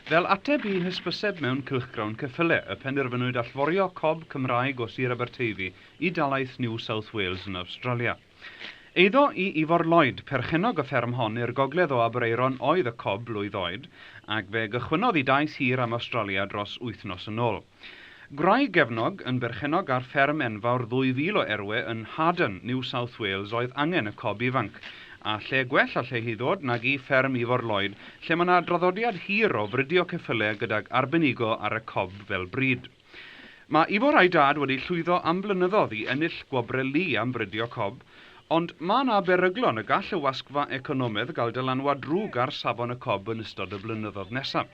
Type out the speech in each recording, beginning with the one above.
Fel ateb i hysbyseb mewn cylchgrawn ceffyle, y penderfynwyd allforio cob Cymraeg o Sir Aberteifi i dalaith New South Wales yn Awstralia. Eiddo i Ifor Lloyd, perchennog y fferm hon i'r gogledd o Aberaeron oedd y cob blwydd oed, ac fe gychwynnodd i daith hir am Awstralia dros wythnos yn ôl. Gwraig gefnog yn berchennog ar fferm enfawr 2,000 o erwe yn Haddon, New South Wales oedd angen y cob ifanc. A lle gwell allai hi ddod nag i fferm Ifor Lloyd lle mae 'na draddodiad hir o fridio ceffyle gydag arbenigo ar y cob fel bryd. Mae Ifor a'i dad wedi llwyddo am flynyddodd i ennill gwobre Lee am fridio cob, Ond mae yna beryglon y gall y wasgfa economaidd gael dylanwad drwg ar safon y cob yn ystod y blynyddoedd nesaf.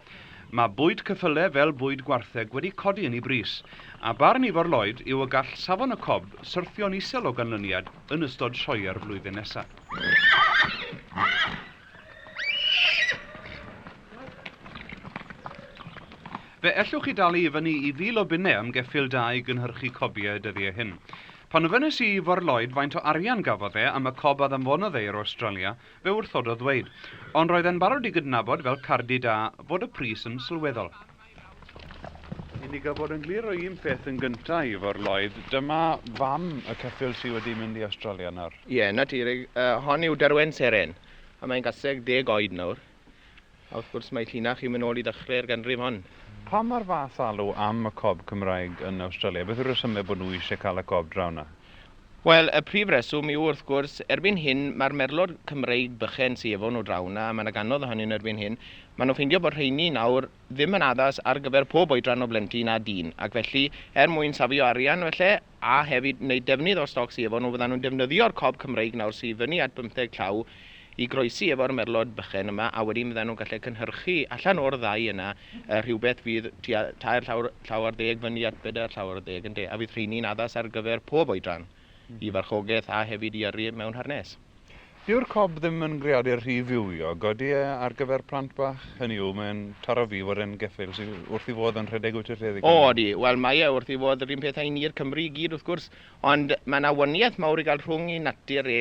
Mae bwyd ceffylau fel bwyd gwartheg wedi codi yn ei bris, a barn Ifor Lloyd yw y gall safon y cob syrthio'n isel o ganlyniad yn ystod sioeau'r flwyddyn nesaf. Fe ellwch chi dalu i fyny i fil o bunnau am geffyl da i gynhyrchu cobiau y dyddiau hyn. Pan ofynes i i Fôr Lloyd faint o arian gafodd e am y cob a ddanfonodd e i'r Awstralia, fe wrthododd ddweud, ond roedd e'n barod i gydnabod, fel cardyn da, fod y pris yn sylweddol. I ni gael bod yn glir o un peth yn gyntaf, Ifor Lloyd, dyma fam y ceffyl sy wedi mynd i Awstralia nawr. Ie, yn naturiol, hon yw Derwen Seren, a mae'n gaseg deg oed nawr. A wrth gwrs mae llinach i'w mynoli ddechrau'r ganrif hon. Pam mae'r fath alw am y cob Cymraeg yn Awstralia? Beth yw'r rhesymau bod nhw eisiau cael y cob draw 'na? Wel, y prif reswm yw, wrth gwrs, erbyn hyn mae'r merlod Cymreig bychain sy efo nhw draw 'na, a mae 'na gannoedd ohonyn nhw erbyn hyn, maen nhw'n ffeindio bod rheiny nawr ddim yn addas ar gyfer pob oedran o blentyn a dyn, ac felly, er mwyn safio arian, falle, a hefyd wneud defnydd o'r stoc sy efo nhw, fyddan nhw'n defnyddio'r cob Cymreig nawr sy i fyny at bymtheg llaw i groesi efo'r merlod bychen yma a wedyn fyddan nhw'n gallu cynhyrchu allan o'r ddau yna yy rhywbeth fydd tua tair llawr, llaw ar ddeg fyny at bedair llaw ar ddeg ynde a fydd rheini'n addas ar gyfer pob oedran i farchogaeth a hefyd i yrru mewn harnês. Dyw'r cob ddim yn greadur rhy fywiog, odi e, ar gyfer plant bach? Hynny yw, mae'n taro fi i fod yn geffyl, sydd wrth ei fodd yn rhedeg wyt i'r lled i Gymru. O, odi. Wel, mae e wrth ei fodd yr un peth â'i ni'r Cymru i gyd, wrth gwrs, ond mae 'na waniaeth mawr i gael rhwng ei natur e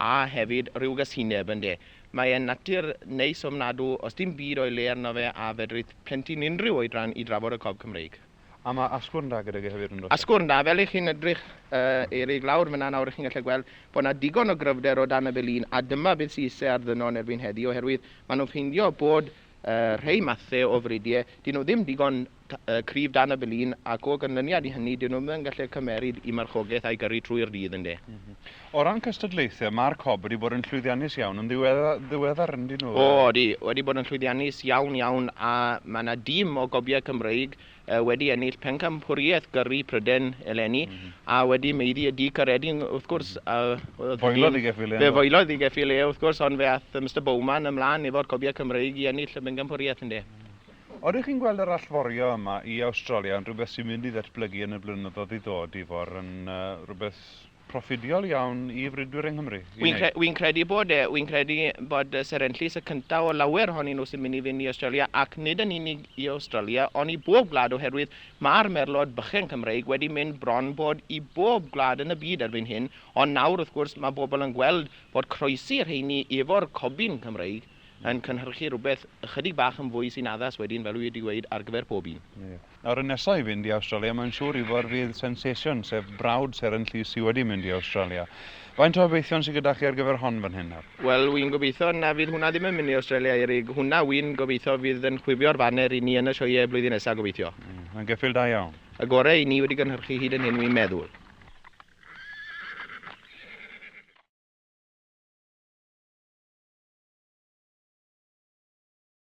a hefyd rhyw gasineb, ynde? Mae e'n natur neis ofnadw, os dim byd o'i le arno fe a fedrith plentyn unrhyw oedran i drafod y cob Cymreig. A mae asgwrn da gydag e hefyd yn does? Asgwrn da, fel i chi'n edrych uh, i'r ug lawr fyna nawr, chi'n gallu gweld bod yna digon o gryfder o dan y felin, a dyma beth sy'n ise ar ddynol erbyn heddi, oherwydd maen nhw'n ffeindio bod uh, rhai mathau o fridie, dyn nhw ddim digon uh, cryf dan y felin, ac o ganlyniad i hynny, dyn nhw ddim yn gallu cymeryd i marchogaeth a'i gyrru trwy'r dydd, ynddo. Mm -hmm. O ran cystadlaethau, mae'r Cob wedi bod yn llwyddiannus iawn yn ddiweddar yndyn nhw? O, ydy, wedi bod yn llwyddiannus iawn, iawn, a mae yna dîm o gobiau Cymreig wedi ennill Pencampwriaeth Gyrru Prydain eleni, a wedi maeddu y du Caeredin, wrth gwrs. Foelodd i Geffi Lê. Fe foelodd i Geffi Lê, wrth gwrs, ond fe aeth Mister Bowman ymlaen efo'r cobiau Cymreig i ennill y Bencampwriaeth, ynde. Odych chi'n gweld yr allforio yma i Awstralia yn rhywbeth sy'n mynd i ddatblygu yn y blynyddoedd i ddod, Ifor, yn rhywbeth... proffidiol iawn i fridwyr yng Nghymru i wneud. Wi'n wi'n credu bod e, wi'n credu bod y Seren Llys y cyntaf o lawer ohonyn nhw sy'n mynd i fynd i Awstralia ac nid yn unig i Awstralia ond i bob gwlad oherwydd ma'r merlod bychan Cymreig wedi mynd bron bod i bob gwlad yn y byd erbyn hyn ond nawr wrth gwrs mae bobl yn gweld bod croesi rheini efo'r cobyn Cymreig yn cynhyrchu rhywbeth ychydig bach yn fwy sy'n addas wedyn fel wi wedi gweud ar gyfer pob un. Ie. Nawr y nesa i fynd i Awstralia mae'n siŵr i fod fydd Sensation, sef brawd Seren Llys sy wedi mynd i Awstralia. Faint o obeithion sy gyda chi ar gyfer hon fan hyn nawr? Wel wi'n gobeithio na fydd hwnna ddim yn mynd i Awstralia Eryg, hwnna wi'n gobeithio fydd yn chwifio'r faner i ni yn y sioeau blwyddyn nesa gobeithio. Mae'n geffyl da iawn. Y gore i ni wedi gynhyrchu hyd yn hyn wi'n meddwl.